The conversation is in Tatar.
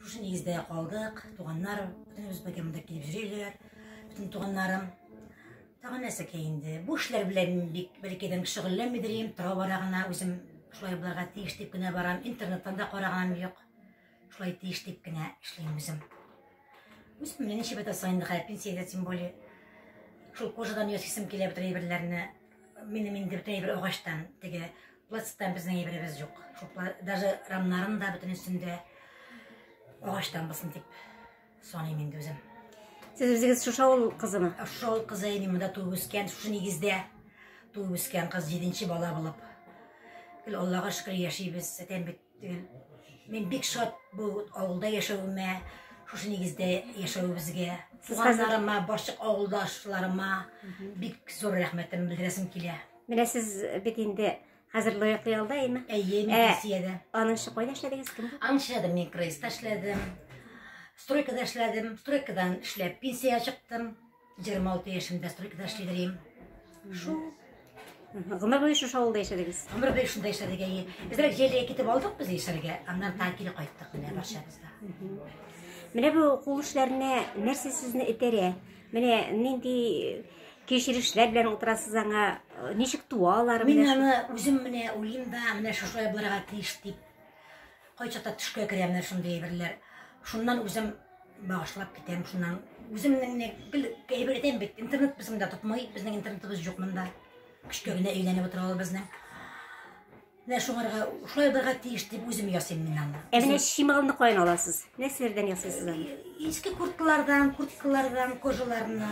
Шушы нигездә калдык, туганнар, бөтенебез бергә монда килеп йөриләр, бөтен туганнарым. Тагы нәрсәкә инде? Бу эшләр белән бик бәлкидән шөгыльләнмидер идем, тора бара гына үзем шулай булырга тиеш дип кенә барам, интернеттан да караганым юк. Шулай тиеш дип кенә эшлим үзем. Үз менә ничә бәтә саен гына пенсиягә тем более. Шул кожадан ясыйсым килә бөтен әйберләрне. Минем инде бөтен әйбер агачтан, теге Пластиктан безнең әйберебез юк. Шуплар даже рамнарын да бөтен өстендә агачтан булсын дип саныйм инде үзем. Сез үзегез шушы авыл кызымы? Шушы авыл кызы мин монда туып үскән, шушы нигездә туып үскән кыз җиденче бала булып. Гел Аллага шөкер яшибез. Әтәм бит Дигән, мин бик шат бу авылда яшәвемә, шушы нигездә яшәвебезгә. Туганнарыма, барчык авылдашларыма бик зур рәхмәтем белдерәсем килә. Менә сез бит инде хәзер лаеклы ялда, әйме? Әйе, мин Россиядә. Аныңчы кайда эшләдегез, кем? Аныңчы эшләдем, мин Крейста эшләдем. Стройкада эшләдем, стройкадан эшләп пенсия чыктым. 26 яшемдә стройкада эшли дирим. Шу. Гомер буе шушы авылда яшәдегез. Гомер буе шунда яшәдек әйе. Безрәк җәйләгә китеп алдык без яшәргә, аннан та кире кайттык менә барчабыз да. Менә бу кул эшләренә нәрсә сезне этәрә? Менә нинди кешерешләр белән утырасыз аңа? Ничек туалар? Мин аны үзем менә уйлыйм да, менә шушылай булырга тиеш дип Кайчакта төшкә керә менә шундый әйберләр. Шуннан үзем багышлап китәм, шуннан үземнең не бил әйбер әйтәм бит, интернет безнең дә тотмый, безнең интернетыбыз юк монда. Көчкә генә әйләнеп утыра ул безнең. Менә шуңарга шулай булырга тиеш дип үзем ясыйм мин аны. Ә менә чималны каян аласыз? Нәрсәләрдән ясыйсыз аны? Иске курткалардан, курткалардан, кожаларына.